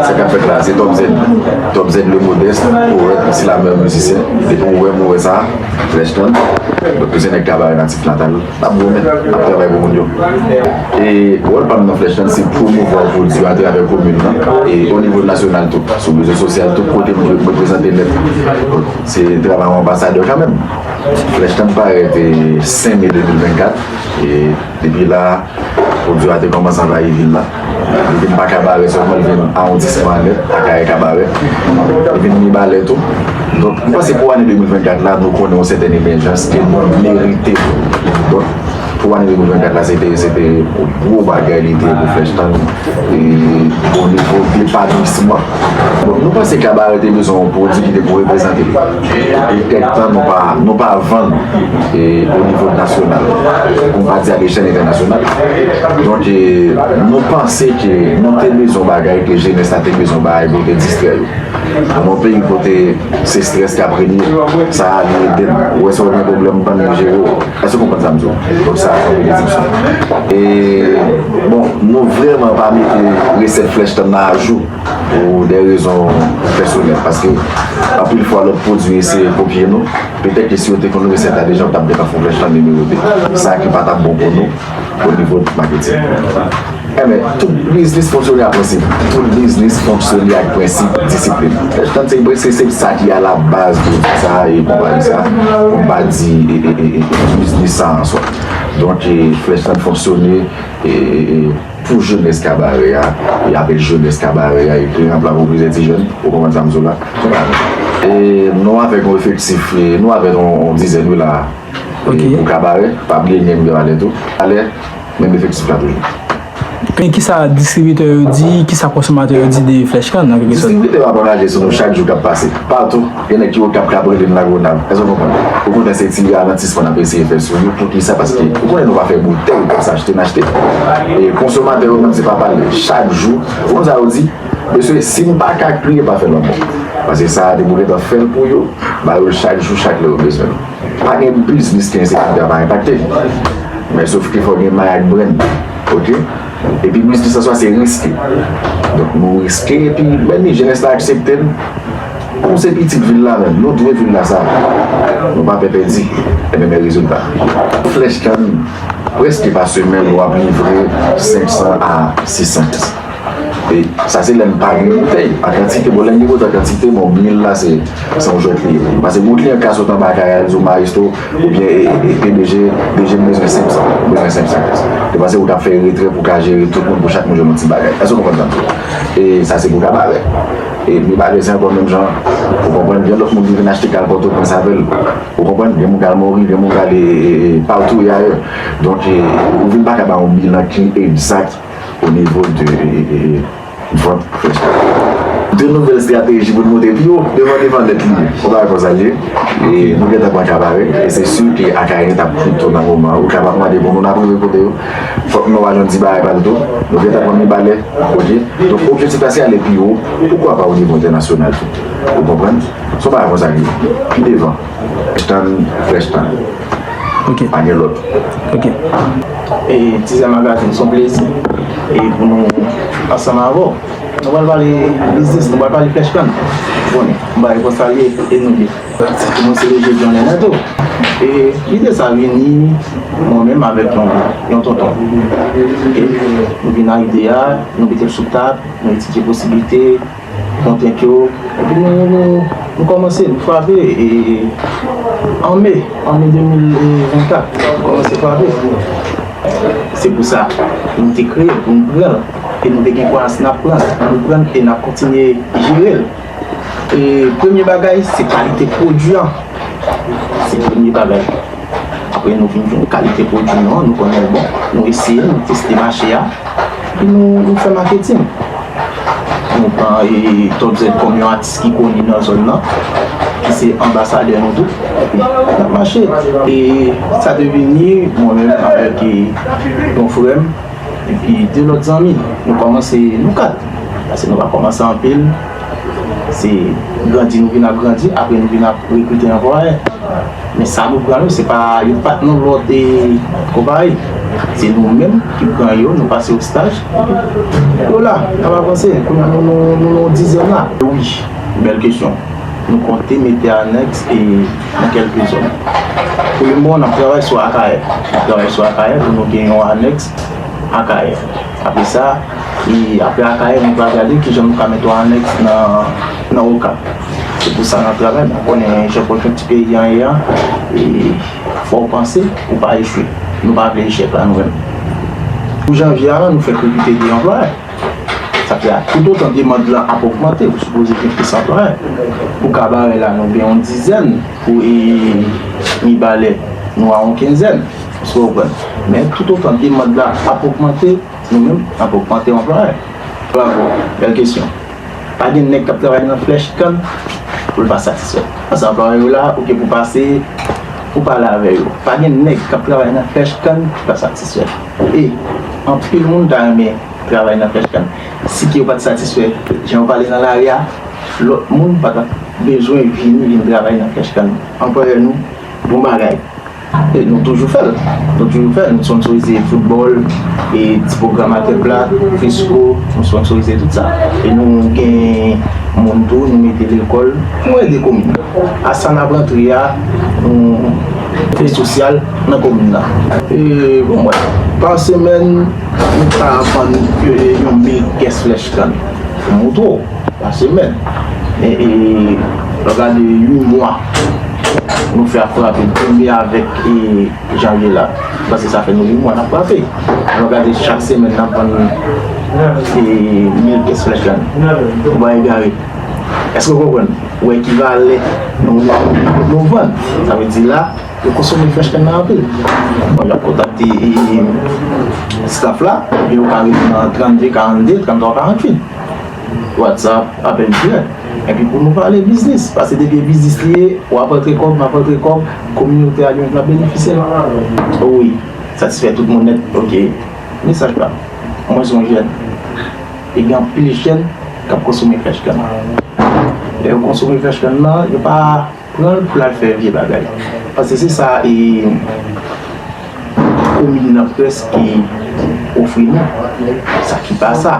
Sa kap fèt la se Top Z Top Z le modeste Powèt Msi la mèr mizisyen Depi ou wè m ou wè sa Fresh ton Donk tou se nèg kabarè natif natal Nap goumen Nap travay pou moun yo E wòl pa m nan Fresh ton se pwomouvwa pwodui a atravè komin nan E o nivo nasyonal tou Sou rezo sosyal tout kote m jwe m reprezante nèt Se travay yon anbasadè kanmèm Flèch lan t parèt 5 me 2024 e depi la a pwodwi a te kòmanse anvayi vil la. Li vin pa Kabarè sèlman, li vin awondisman an nèt, Akayè, Kabarè. Li vin Mibalè tou. Donk, m panse pou ane 2024 la, nou konnen yon sètèn emèjans ke nou merite. Donk, pou ane 2024 la, se te, se te yon gwo bagay li te ye pou Flèch Tan e o nivo depatisman. Donk, nou panse Kabarè te bezwen yon pwodwi ki te pou reprezante li. Li fè tan nou pa vann o nivo nasyonal, pou m pa di a lechèl entènasyonal. Donk nou panse ke nou te bezwen bagay ke jenès la te bezwen bay pou te distrè yo. Nan yon peyi kote se strès kap renye, sa a li ede m. Ou wè si w gen pwoblèm bann yo jere w. Èske w konprann sa m di w? Donk sa a fè yon desepsyon. E bon, nou vrèman pa mete resèt flèch tann nan ajou. pou de rezon pèsonèl, paske anpil fwa lòt pwodui eseye kopye nou, petèt ke si yo te konn resèt la deja yo tap deja fon vèch lan de nimewo 2, sa ki pa tap bon pou nou o nivo maketing. Enben, tout biznis fonksyone ak prensip. Tout biznis fonksyone ak prensip disiplin. Vèch lan se prensip, se sa ki a la baz de tout sa e konpayi sa, pou m pa di biznis sa an swa. Donk, vèch lan fonksyone e... Pou jenès kabarè a, e apre jenès kabarè a, ekri nan pla pou plizyè ti jèn, ou konprann sa m di w la? E nou avèk yon efektif, nou avèk yon dizèn wi la a, pou kabarè, pa bliye gen Mgr Alè tou, Alè, menm efektif la toujou. Men ki sa distribitè yo di, ki sa konsomatè yo di de Flèch Kann, an kèk sòt? Distribitè yo ap anraje sou nou chak jou k ap pase, patou. Gen nèg ki okap kap rele n lagonav èske w konprann ou konnen se ti ralantisman nap eseye fè sou yo poukisa paske ou konnen nou pa fè boutèy kòb sa achte n achte e konsomatè yo menm se pa pale chak jou ou konn sa yo di mesye si n paka kriye pa fè lanmò paske sa depi w gentan fè l pou yo ba yo l chak jou chak lè yo bezwen l pa gen biznis ke ensekirite a pa enpakte men sof ke fòk gen may ak brenn ok epi biznis an swa se riske donk nou riske epi menm jenès la aksepte l. Kòm se pitit vil la menm, nou dwe vil la sa. Nou pa pè pèdi. Enben men rezilta. Flèch kann prèske pa semèn ou ap livre 500 a 600 kès. E sa se lè m pa gen boutèy. A kantite bon, lè m gen boutèy a kantite bon, 1000 la se se yon jwèt li ye. Pase gwo kliyan ka sot anba kay a l di w Maestro oubyen e pdg, DG m bezwen 500, m bezwen 500 kès. Te panse ou t ap fè retrè pou w ka jere tout moun pou chak moun jwenn yon ti bagay. Èske w konprann sa m di w la? E sa se pou kabarè. E nou pa resi ankò menm jan an. Ou konprann? Gen lòt moun ki vin achte kal Pòtoprens avè l. Ou konprann? Gen moun k al Mori, gen moun k al patou e ayè. Donk, ou vin pa ka bay yon bilan ki egzat onivo de vant Fresh Café. De nouvèl estrateji pou l monte pi wo devan devan nèt li. Yon bagay konsa l ye. E nou gentan pran ka pare. E se si ke Akayè t ap pito nan moman an. Ou ka pa mande moun, moun ap rive kote yo. Fòk nou al nan di bagay pa nou tou. Nou gentan konn Mibalè, ok. Donk objektif la se ale pi wo, poukwa pa onivo entènasyonal tou. Ou konprann? Se yon bagay konsa li ye. Pi devan. Tann frèch tann. Ok. Pa gen lòt. Ok. E Tizè Magazine se yon plezi pou nou ansanm avè w. Nou pral pale biznis, nou pral pale frèch tann. Bon bagay konsa li ye. E nou menm? Pratik mwen se leve blan nènè to. E lide sa vini mwen menm avèk yon tonton. E nou vin nan ide a, nou mete l sou tab, nou etidye posiblite, kontrent yo. Epi nou kòmanse, nou frape e an me, an me 2024, nou kòmanse frape. Se pou sa nou te kreye l, pou nou pran l. E nou te gen kwayans n ap pran l. Nou pran l e n ap kontinye jere l. Premye bagay se kalite pwodui an, se premye bagay. Apre nou fin jwenn kalite pwodui nou an, nou konnen l bon, nou eseye l, nou teste mache a, epi nou fè maketing. Nou pran Top Z kòm yon atis ki koni nan zòn nan, ki se anbasadè nou tou, epi n ap mache. E sa te vini, mwen menm avèk yon frè m. Epi 2 lòt zanmi, nou kòmanse nou 4, pase nou pa kòmanse anpil, se grandi nou vin ap grandi, apre nou vin ap rekrite anplwayè. Men sa nou pran yo, se pa yo pa nan lòd e konpayi, se nou menm ki pran yo, nou pase yo staj, epi yo la, y ap avanse, kounya nou nan yon dizèn la. Wi, bèl kesyon. Nou konte mete anèks e nan kèlke zòn. Kote m bon an, n ap travay sou Akayè. N ap travay sou Akayè pou nou gen yon anèks Akayè. Apre sa, apre Akayè, nou pral gade ki jan nou ka mete yon anèks nan Okap. Se pou sa n ap travay. Mwen konnen jan konjonkti peyi an ye a, e fò w panse pou w pa echwe. Nou pa vle echèk la nou menm. Pou janvye a la, nou fèk rekrite 2 anplwayè. Sa vle di a toutotan demand lan ap ogmante ou sipoze gen plis anplwaye pou kabarè la nou gen yon dizèn pou mibalè nou a yon kenzèn eskew konprann men toutotan demand lan ap ogmante nou menm nap ogmante anplwaye. Bravo bèl kesyon pa gen nèg kap travay nan flèch kann poul pa satisfè paske anplwaye yo la ou gen pou pase pou pale avè yo pa gen nèg kap travay nan flèch kann ki pa satisfè. E, anpil moun ta renmen travay nan pèch la. Si ke yo pat satisfè jan yo pale nan lari a, lòt moun pa tap bezwen vini vin travay nan pèch kann. Anperè nou, bon bagay. E nou toujou fèl. Nou toujou fèl. Nou sponnsorize foutbòl, e ti pwogram a kèk pla, fresco, nou sponnsorize tout sa. E nou gen moun tou, nou mete lekòl, nou ede komin. A sa nap rantre a Kote sosyal nan komin nan. Bon mwen pa semèn nou ka vann yon mil kès flèch kann pou moto pa semèn lò gade yon mwa nou fè ap frape premye avèk janvye la paske sa fè nou yon mwa nap frape lò gade chak semèn nap vann mil kès flèch kann ou pa egare. Èske ou konprann? Ou ekivalè yon Novann. Sa vle di la, yo konsome frèch kenn nan anpil. Bon, y ap kontakte staf la, epi yo ka rive nan 32, 42, 33, 48. Whatsapp, apèl dirèk. Epi pou nou pale biznis. Pase depi e biznis li ye, w ap rantre kòb, m ap rantre kòb, kominote a li menm l ap benefisye l. O wi. Satisfè tout moun nèt. Ok. Mesaj pa m. Mwen se yon jèn. E gen anpil jèn k ap konsome fèch kann nan. Lè yo konsome fèch kann nan, yo pa pran l pou l al fè vye bagay. Paske se sa komin nan prèske ofri nou. Sa ki pa sa.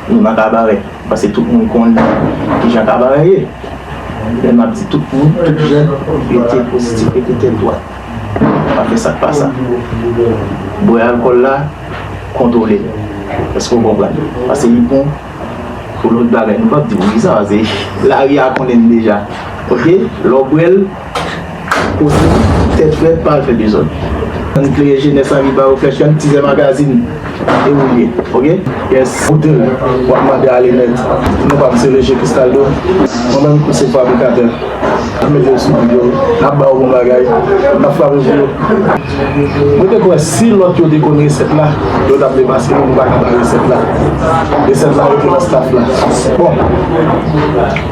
Nou nan kabarè. Paske tout moun konnen ki jan kabarè ye. Lè m ap di tout moun, tout jèn, rete pozitif, rete tèt dwat. Pa fè sa k pa sa. Bwè alkòl la, kontwole l. Èske w konprann? Pase li bon pou lòt bagay. Nou pap di w di sa pase lari a konnen l deja. Oke? Lè w bwè l, poze l tèt frèt, pa al fè dezòd. Ann klere jenès la, ann ba yo flèch, ann tizè magazin. E ou ye ok yes. Koute l wap mande ale nèt. Nou pa msye leje Cristaldo. Mwen menm tou se fabrikatè. Nap mete yo sou bit yo. Nap ba yo bon bagay. Nap frape pou yo. Mwen te kwè si lòt yo te konn resèt la yo tap demaske nou nou pa ka bay resèt la. Resèt la rete nan staff la. Bon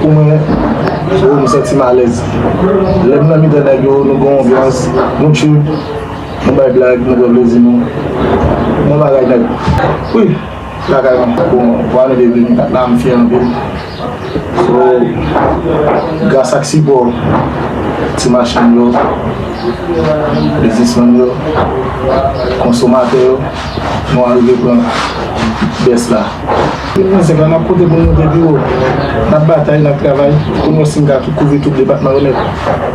pou mwen oh m santi m alèz. Lèm nan mitan nèg yo nou gen yon anbyans nou tchuup. Nou bay blag nou pran plezi nou bon bagay nèt wi lakay mwen bon vwa nou te vini la m fyè anpil so gras ak sipò ti machann yo biznismann yo konsomatè yo nou arive pran bès la. Tout mizèk la nap pote pou nou moute pi wo nap batay nap travay pou nou wè si nou ka kouvri tout depatman yo nèt.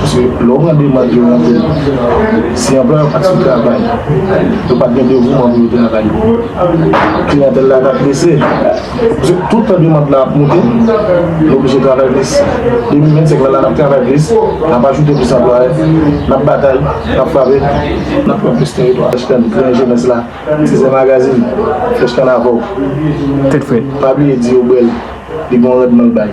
Paske lè ou mande moun yo rantre, si anplwaye yo pa t sou travay, yo pa t gen devouman pou yo travay, kliyantèl la ka prese. Paske tout tan demand la ap moute, yo oblije travay plis. 2025 la, n ap travay plis, n ap ajoute plis anplwaye, n ap batay, n ap frape, n ap pran plis teritwa. Fresh Can di yon jenès la, Tizè Magazine, Fresh Can avè w. Tèt frèt. Pa bliye di yo bèl, li gen yon randman l bay.